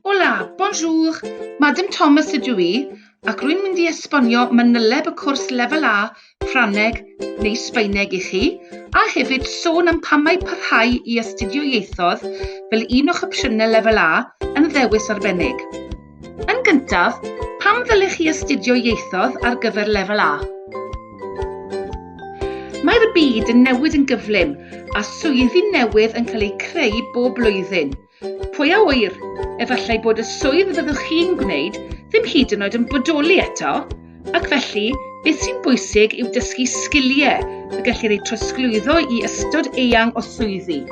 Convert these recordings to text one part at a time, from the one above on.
Hola, bonjour, Madam Thomas ydw i, ac rwy'n mynd i esbonio manyleb y cwrs lefel A, Ffrangeg neu Sbaeneg i chi, a hefyd sôn am pam mae parhau i astudio ieithoedd fel un o'ch opsiynau lefel A yn ddewis arbennig. Yn gyntaf, pam ddylech chi astudio ieithoedd ar gyfer lefel A? Mae'r byd yn newid yn gyflym a swyddi newydd yn cael eu creu bob blwyddyn. Pwy a wyr, efallai bod y swydd fyddwch chi'n gwneud ddim hyd yn oed yn bodoli eto, ac felly beth sy'n bwysig yw dysgu sgiliau y gellir eu trosglwyddo i ystod eang o swyddi.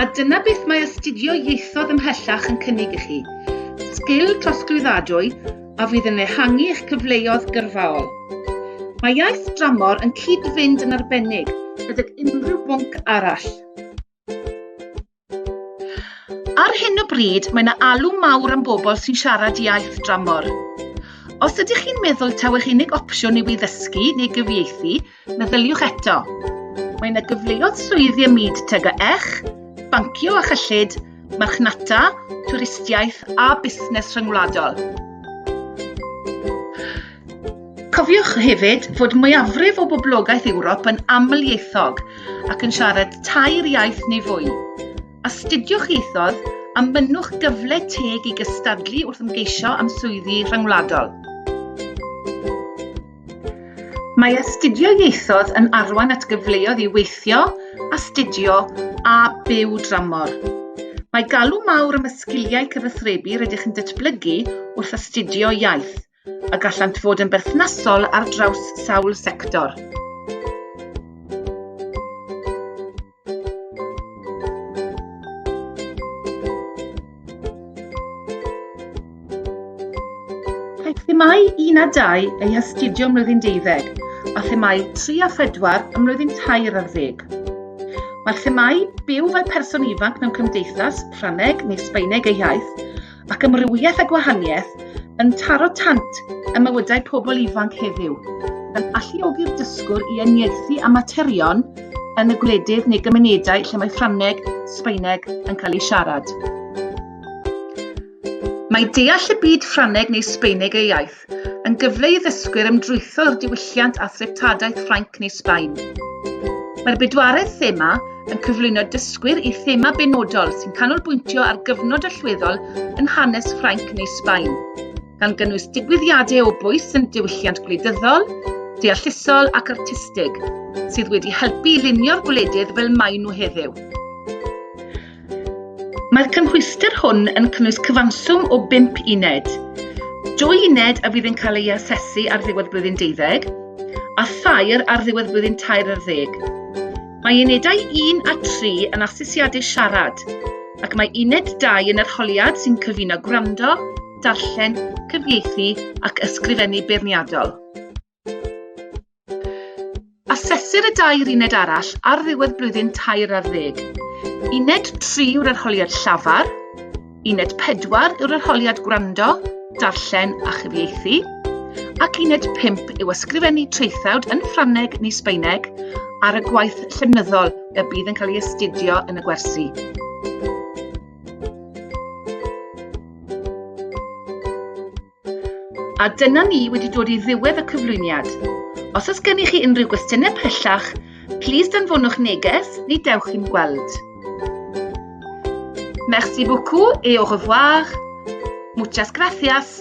A dyna beth mae astudio ieithoedd ymhellach yn cynnig i chi, sgil trosglwyddadwy a fydd yn ehangu eich cyfleoedd gyrfaol. Mae iaith dramor yn cyd-fynd yn arbennig gydag unrhyw bwnc arall. Ar hyn o bryd, mae yna alw mawr am bobl sy'n siarad iaith dramor. Os ydych chi'n meddwl taw eich unig opsiwn yw i ddysgu neu gyfieithu, Meddyliwch eto. Mae yna gyfleoedd swyddi ym myd teg a ech, bancio a chyllid, marchnata, twristiaeth a busnes rhyngwladol. Cofiwch hefyd fod mwyafrif o boblogaeth Ewrop yn amlieithog ac yn siarad tair iaith neu fwy. Astudiwch ieithoedd a mynnwch gyfle teg i gystadlu wrth ymgeisio am swyddi rhyngwladol. Mae astudio ieithoedd yn arwain at gyfleoedd i weithio, astudio a byw dramor. Mae galw mawr am y sgiliau cyfathrebu rydych chi'n datblygu wrth astudio iaith, a gallant fod yn berthnasol ar draws sawl sector. Caiff themâu 1 a 2 eu hastudio ym mlwyddyn deuddeg a themâu 3 a 4 ym mlwyddyn tair ar ddeg. Mae'r themâu byw fel person ifanc mewn cymdeithas, Ffrangeg neu Sbaeneg ei hiaith, ac amrywiaeth a gwahaniaeth yn taro tant ym mywydau pobl ifanc heddiw, yn alluogi'r dysgwr i uniaethu â materion yn y gwledydd neu gymunedau lle mae Ffrangeg, Sbaeneg yn cael eu siarad. Mae deall y byd Ffrangeg neu Sbaeneg ei iaith yn gyfle i ddysgwyr ymdrwytho i'r diwylliant a threftadaeth Ffrainc neu Sbaen. Mae'r bedwaredd thema yn cyflwyno dysgwyr i thema benodol sy'n canolbwyntio ar gyfnod allweddol yn hanes Ffrainc neu Sbaen, gan gynnwys digwyddiadau o bwys yn diwylliant gwleidyddol, deallusol ac artistig, sydd wedi helpu i lunio'r gwledydd fel maen nhw heddiw. Mae'r cymhwyster hwn yn cynnwys cyfanswm o bump uned. Dwy uned a fydd yn cael ei asesu ar ddiwedd blwyddyn deuddeg, a thair ar ddiwedd blwyddyn tair ar ddeg. Mae unedau 1 a 3 yn asesiadau siarad, ac mae uned 2 yn arholiad sy'n cyfuno gwrando, darllen, cyfieithu ac ysgrifennu beirniadol. Asesir y dair uned arall ar ddiwedd blwyddyn tair ar ddeg. Uned 3 yw'r arholiad llafar, uned 4 yw'r arholiad gwrando, darllen a chyfieithu, ac uned 5 yw ysgrifennu traethawd yn Ffrangeg neu Sbaeneg ar y gwaith llenyddol y bydd yn cael ei astudio yn y gwersi. A dyna ni wedi dod i ddiwedd y cyflwyniad. Os oes gennych chi unrhyw gwestiynau pellach, plîs danfonwch neges neu dewch i'n gweld. Merci beaucoup et au revoir. Muchas gracias.